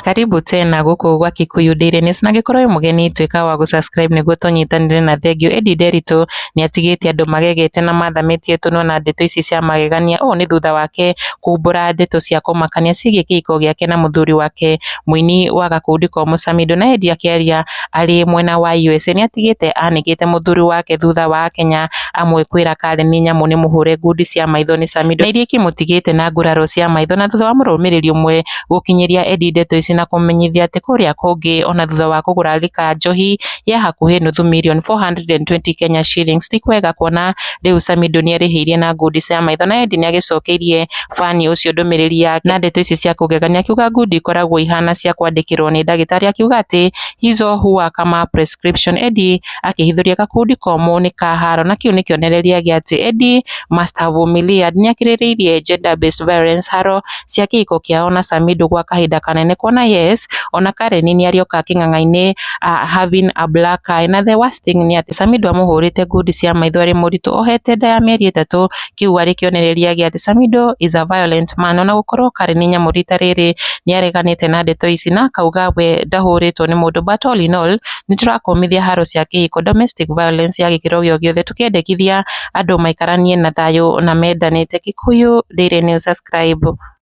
Karibu tena gũkũ gwa Kikuyu Daily News na angĩkorwo wĩ mũgeni tuĩka wa gũ subscribe nĩguo tũnyitanĩre na thengiũ. Eddie Nderitu nĩatigĩte andũ magegete na mathamĩtie tũnua na ndeto ici cia magegania. Ũũ nĩ thutha wake kumbũra ndeto cia kũmakania ciĩgiĩ kĩhiko gĩake na mũthuri wake mũini wa gakundi komũ Samido. Na Eddie akĩaria arĩ mwena wa USA nĩatigĩte anĩkĩte mũthuri wake thutha wa Akenya amwe kwĩra Karen nĩ nyamũ nĩ mũhũre ngundi cia maitho nĩ Samido na iria ikĩmũtigĩte na nguraro cia maitho na thutha wa mũrũmĩrĩri ũmwe gũkinyĩria Eddie ndeto ici na kũmũmenyithia atĩ kũrĩa kũngĩ ona thutha wa kũgũra lika njohi ya hakuhĩ nuthu mirioni 420 Kenya shillings ti kwega kuona rĩu Samido nĩarĩhĩirie na ngundi cia maitho na Eddie nĩagĩcokeirie Fani ũcio ndũmĩrĩri yake na ndeto ici cia kũgegania akiuga ngundi ikoragwo ihana cia kwandĩkĩrwo nĩ ndagĩtarĩ akiuga atĩ Hizo huwa kama prescription Eddy akĩhithũria gakundi komũ nĩ ka haro na kĩu nĩ kĩonereria gĩa atĩ Eddy must have humiliad nĩakirĩrĩirie gender based violence haro cia kĩhiko kĩao na Samido gwa kahinda kanene kuona yes ona Karen nĩarĩoka kĩng'ang'ainĩ having a black eye na the worst thing nĩ atĩ Samido amũhũrĩte ngundi cia maitho arĩ mũritũ ohete nda ya mĩeri ĩtatũ kĩu arĩ kĩonereria gĩa atĩ Samidoh is a violent man. Ona gũkorwo Karen nĩ nyamũ rita rĩrĩ nĩareganĩte na ndeto ici na akauga we ndahũrĩtwo nĩ mũndũ but all in all nĩtũrakũmithia haro cia kĩhiko, domestic violence ya gĩkĩro gĩo gĩothe tũkĩendekithia andũ maikaranie na thayũ na mendanĩte. Gĩkũyũ Daily News subscribe.